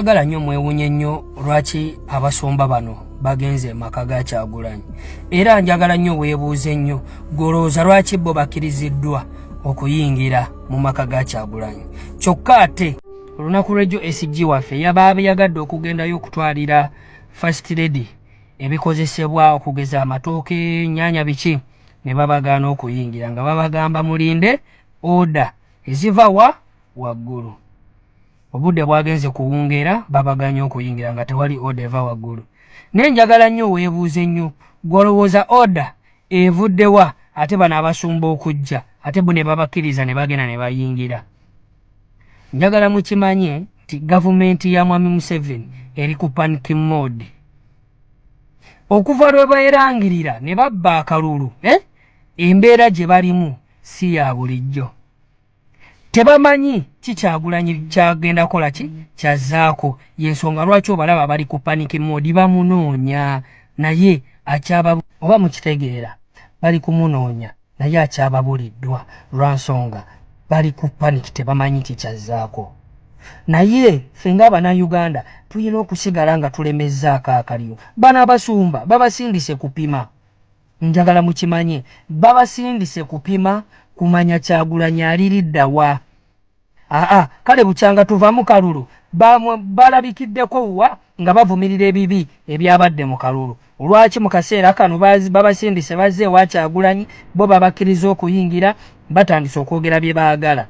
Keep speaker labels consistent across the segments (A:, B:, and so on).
A: Agala nyo mwewunye nyo lwaki abasomba bano bagenze maka ga kyagulanyi era njagala nyo webuuze nyo golooza lwaki bo bakiriziddwa okuyingira mu maka ga kyagulanyi kyokka ate olunaku lwejjo SG waffe yabaabe yagadde okugendayo okutwalira first lady ebikozesebwa okugeza amatooke nnyanya biki ne babagaana okuyingira nga babagamba mulinde oda eziva wa waggulu Obudde bwagenze kuwungeera babaganye okuyingira nga tewali order eva waggulu. Naye njagala nnyo weebuuze nnyo ggwe olowooza order evudde wa ate bano abasumba okujja ate bo ne babakkiriza ne bagenda ne bayingira? Njagala mukimanye nti gavumenti ya Mwami Museveni eri ku panic mode. Okuva lwe beerangirira ne babba akalulu eh embeera gye balimu si ya bulijjo. tebamanyi ki kyagulanyi kyagenda kola ki kyazaako yensonga lwaki obalaba bali ku panic mode bamunoonya naye akyaba oba mukitegeera bali kumunoonya naye akyababulidwa lwansonga bali ku panic tebamanyi ki kyazaako naye ffe nga abana Uganda tuyina okusigala nga tulemezzaako akaliro bano abasumba babasindise kupima Njagala mukimanye babasindise kupima kumanya kyagulanyi aliridda wa aa kale bukyanga tuva mukalulu bamwe balabikiddeko wa nga bavumirira ebibi ebyabadde mukalulu lwaki mukaseera kano babasindise bazze ewa kyagulanyi bo babakiriza okuyingira batandise okwogera byebagala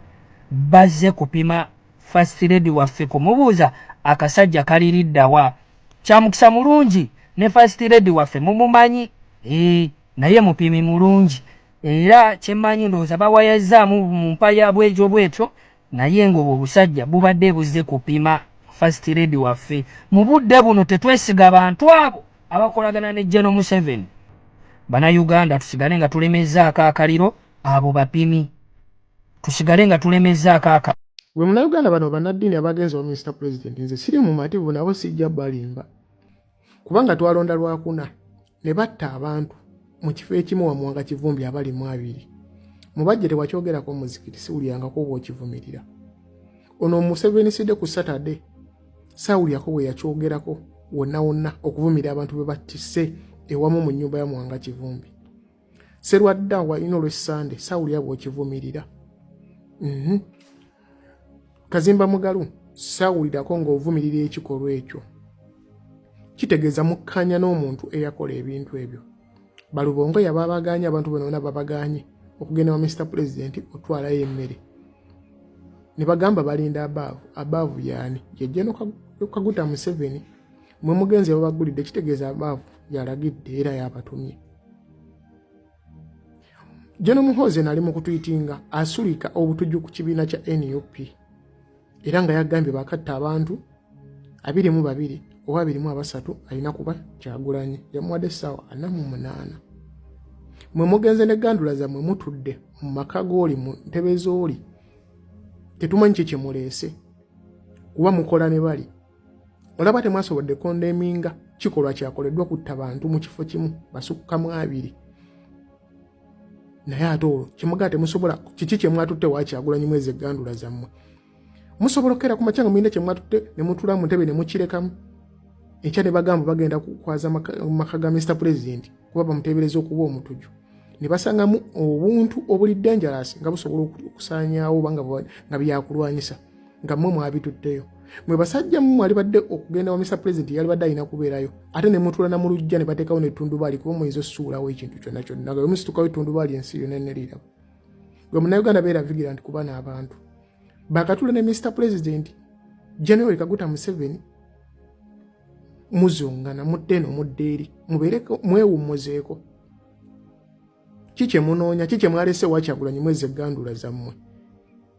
A: bazze kupima first lady waffe kumubuuza akasajja kaliridda wa Kyamukisa mulungi ne first lady waffe mumumanyi eeh naye mupimi mulungi era kyemanyi ndowooza bawayazzaamu mumpaya bwetyo bwetyo naye nga obwo obusajja bubadde buzze kupima first lady waffe mubudde buno tetwesiga bantu abo abakolagana ne General Museveni bana Uganda tusigale nga tulemezzaako akaliro abo bapimi tusigale nga tulemezzaako akabina. Gwe munauganda bano
B: banadini abagenze wa Mister president nze siri mumativu nabo sijja balimba kubanga twalonda lwakuna ne batta abantu mu kifo ekimu wamuwanga kivumbi abali mu abiri mubajje tewakyogerako muzikiti siwulirangako oba okivumirira ono omuseveni side ku saturday sawulirako bwe yakyogerako wonna wonna okuvumira abantu bwe battise ewamu mu nyumba ya muwanga kivumbi serwadda walina olwessande sawulira bwokivumirira mhm. kazimba mugalu sawulirako ng'ovumirira ekikolwa ekyo kitegeeza mukkanya n'omuntu eyakola ebintu ebyo balubongo yaba abaganye abantu bonabona babaganye okugenda wa mister pulezidenti otwalayo emmere ne bagamba balinda abaavu abaavu yaani yejja nokaguta museveni mwe mugenzi yababagulidde kitegeeza abaavu yalagidde era yabatumye jeno muhoze nali mukutwitinga asulika obutujju ku kibiina kya nup era nga yagambye bakatta abantu abiri mu babiri oba abiri mu abasatu alina kuba kyagulanyi yamuwadde essaawa ana mu munaana mwe mugenze ne gandula zammwe mutudde mu maka gooli mu ntebe zooli tetumanyi kye kyemuleese kuba mukola ne bali olaba temwasobodde kondeminga kikolwa kyakoleddwa kutta bantu mu kifo kimu basukkamu abiri naye ate olwo kyemugaa temusobola kiki kyemwatutte wakyagulanyi mwezi egandula zammwe musobola okukeera ku makya nga mulina kyemwatutte ne mutula mu ntebe ne mukirekamu enkya ne bagamba bagenda kukwaza maka ga mr president kuba bamuteebereza okuba omutuju ne basangamu obuntu obuli dangerous nga busobola okusaanyaawo oba nga byakulwanyisa nga mwe mwabituddeyo mwe basajja mu mwali badde okugenda wa mr president yali badde alina kubeerayo ate ne mutula na mulujja ne bateekawo netundubaali kuba muyinza osuulawo ekintu kyonna kyonna nga wemusitukawo etundubaali ensi yona eneriirabo gwe munauganda beera vigira nti kuba n'abantu bakatula ne mr president january kaguta museveni muzungana mudde eno mudde eri mubeereko mwewummuzeeko ki kye munoonya ki kye mwalese wakyagulanyi mwezi eggandula zammwe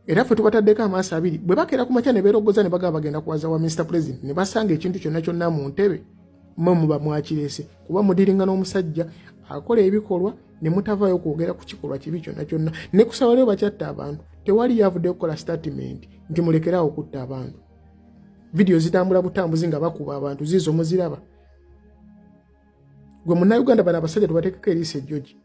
B: era ffe tubataddeko amaaso abiri bwe bakeera ku makya ne beerogoza ne bagamba bagenda kuwaza wa minisita pulezidenti ne basanga ekintu kyonna kyonna mu ntebe mwe muba mwakirese kuba mudiringa n'omusajja akola ebikolwa ne mutavaayo kwogera ku kikolwa kibi kyonna kyonna ne kusaba lyo bakyatta abantu tewali yavudde kukola sitatimenti nti mulekeraawo okutta abantu vidiyo zitambula butambuzi nga bakuba abantu ziizo muziraba gwe munauganda bana abasajja tubatekeko eriisa ejoji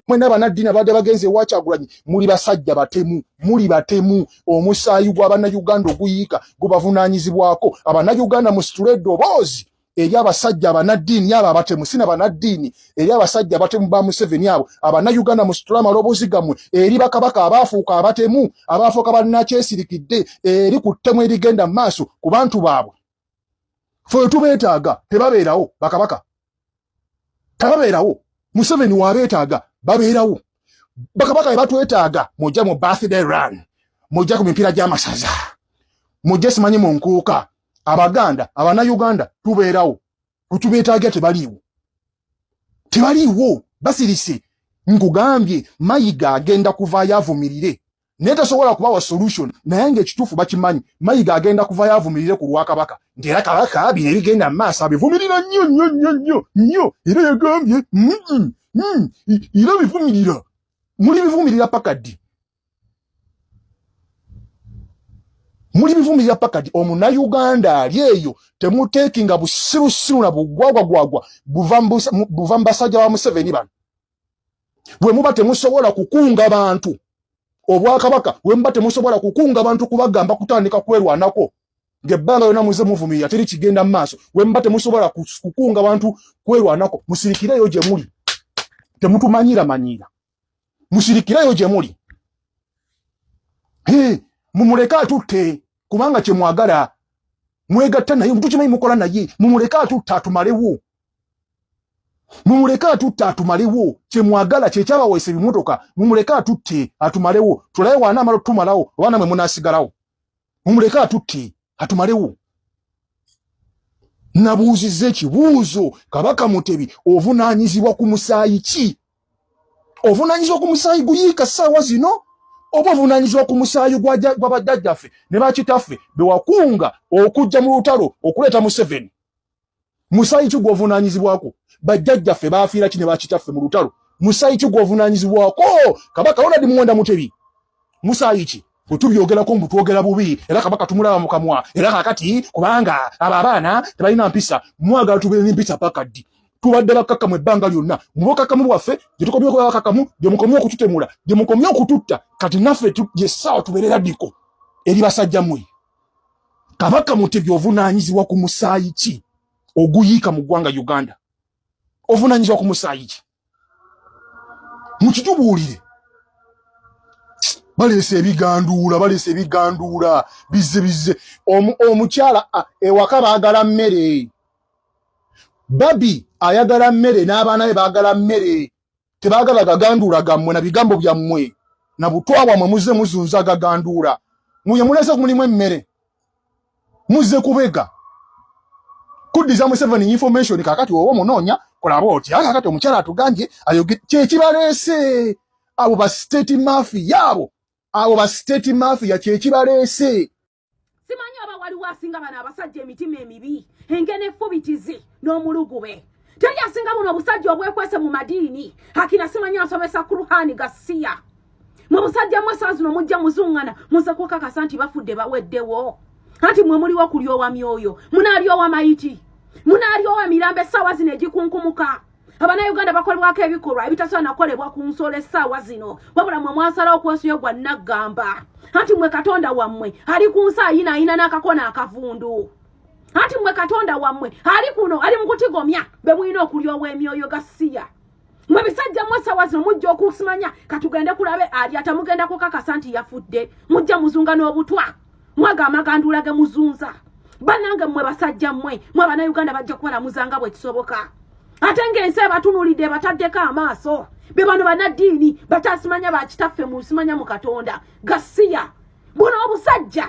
B: mwena
C: abanaddini abadde bagenze ewakyagulanyi muli basajja batemu muli batemu omusaayi gwabanauganda oguyiika gubavunanyizibwako abanauganda musitule eddoboozi eri abasajja abanaddiini abo abatemu sina banaddiini eri abasajja abatemu ba museveni abo abanauganda musitule amaloboozi gammwe eri bakabaka abaafuuka abatemu abaafuuka banakyesirikidde eri ku ttemu erigenda mu maaso ku bantu baabwe fewe tubeetaaga tebabeerawo bakabaka tebabeerawo museveni wabeetaaga babeerawo bakabaka bebatwetaaga mujja mu birthday run mujja ku mipiira gy'amasaza mujja simanyi mu nkuuka abaganda abana uganda tubeerawo wetubeetaaga tebaliiwo tebaliiwo basirise nkugambye mayiga agenda kuvaayo avumirire naye tasobola kubawa solution naye nga ekituufu bakimanyi mayiga agenda kuvayo avumirire ku lwakabaka nti era kabaka bino ebigenda mu maaso abivumirira nnyo nnyo nnyo nnyo nnyo era yagambye era bivumirira muli bivumirira paka ddi muli bivumirira paka ddi omunauganda ali eyo temuteekinga busirusiru na bugwagwagwagwa buva mu basajja ba museveni bano wemuba temusobola kukunga bantu obwakabaka wemuba temusobola kukunga bantu kubagamba kutandika kwerwanako ngebbanga yona muze muvumirira teri kigenda mu maaso wemuba temusobola kukunga bantu kwerwanako musirikireyo gye muli temutumanyira manyira musirikireyo gye muli mumuleke atutte kubanga kyemwagala mwegatta naye mutukimanyi mukola naye mumuleke atutte atumalewo mumuleke atutte atumalewo kyemwagala kyekyabawaisa ebimotoka mumuleke atutte atumalewo tulaye waana amala otutumalawo oba namwe munasigalawo mumuleke atutte atumalewo nabuuziza ekibuuzo kabaka mutebi ovunanyizibwa ku musaayi ki ovunanyizibwa ku musaayi guyiika ssaawa zino oba ovunanyizibwa ku musaayi gwabajjajjaffe ne bakitaffe bewakunga okujja mu lutalo okuleeta museveni musayi ki gwovunanyizibwako bajjajjaffe baafiira ki ne bakitaffe mu lutalo musayi ki gwovunanyizibwako kabaka wona di muwonda mutebi musayi ki wetubyogerako mbu twogera bubi era kabaka tumulaba mu kamwa era kakati kubanga abo abaana tebalina mpisa mwagala tubeere nempisa paka ddi tubadde bakkakkamu ebbanga lyonna mu bukkakkamu bwaffe gye tukomye okuba bakkakkamu gye mukomye okututemula gye mukomye okututta kati naffe gye ssaawa tubeerera ddiko eri basajja mwe Kabaka Mutebi ovunaanyizibwa ku musaayi ki oguyiika mu ggwanga Uganda? Ovunaanyizibwa ku musaayi ki? Mukitubuulire. Baleese ebiganduula, baleese ebiganduula, bizze bizze. Omukyala ewaka baagala mmere. Babi ayagala mmere n'abaana be baagala mmere. tebagala gaganduula gammwe na bigambo byammwe na butwa bwammwe muzze muzunza gaganduula muye mulese ku mulimu emmere muzze kubega kuddiza museveni information kakati oba omunoonya kulaba oti a kakati omukyala atugambye ayoge kyekibaleese abo ba state mafi yaabo abo ba state mafi ya kyekibaleese simanyi
D: oba waliwo asinga bano abasajja emitima emibi engene efubitizi n'omulugube teri asinga buno obusajja obwekwese mu madiini akina simanyi asomesa kuruhani gasiya mu busajja mwe saa zino mujja muzungana muze kukakasa nti bafudde baweddewo anti mwe muliwo kulyowa myoyo munaalyowa mayiti munaalyowa mirambo essaawa zino egikunkumuka abanauganda bakolebwako ebikolwa ebitasobola nakolebwa ku nsolo essaawa zino wabula mwe mwasalawo okwosuyo gwa naggamba anti mwe katonda wammwe ali ku nsi ayina ayina n'akakona akavundu anti mwe katonda wammwe ali kuno ali mu kutigomya be mulina okulya ow'emyoyo gasiya mwe bisajja mwe essaawa zino mujja okusimanya katugende kulabe alya tamugenda kukakasa nti yafudde mujja muzunga n'obutwa mwaga amaganduulage muzunza banange mmwe basajja mmwe mwe abanauganda bajja kubalamuza nga bwe kisoboka ate ng'ensi ebatunulidde ebataddeko amaaso be bano banaddiini batasimanya bakitaffe mu nsimanya mu katonda gasiya buno obusajja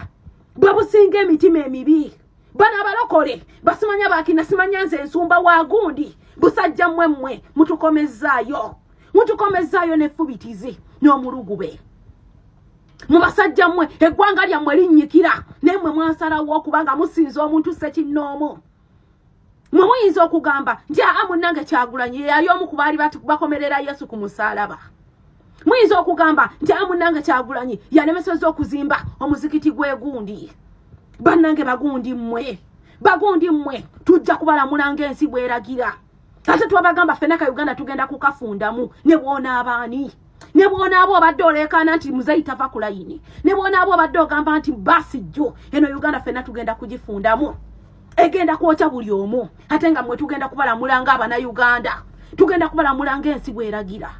D: bwe businga emitima emibi bano abalokole basimanya bakina simanya nze ensumba wa gundi busajja mmwe mmwe mutukomezzaayo mutukomezzaayo nefubitizi n'omulugube mu basajja mmwe eggwanga lyammwe linnyikira naye mmwe mwasalawo okuba nga musinza omuntu sekinnoomu mwe muyinza okugamba nti aa munnange kyagulanyi yeyali omu ku baali bakomerera yesu ku musaalaba muyinza okugamba nti aa munnange kyagulanyi yalemeseza okuzimba omuzikiti gwegundi bannange bagundi mmwe bagundi mmwe tujja kubalamulanga ensi bweragira ate twabagamba ffena ka uganda tugenda kukafundamu ne bwonaaba ani ne bwonaaba obadde oleekaana nti muzeyi tava ku layini ne bwonaaba obadde ogamba nti baasi jjo eno uganda ffena tugenda kugifundamu egenda kwokya buli omu ate nga mwe tugenda kubalamulanga abana uganda tugenda kubalamulanga ensi bweragira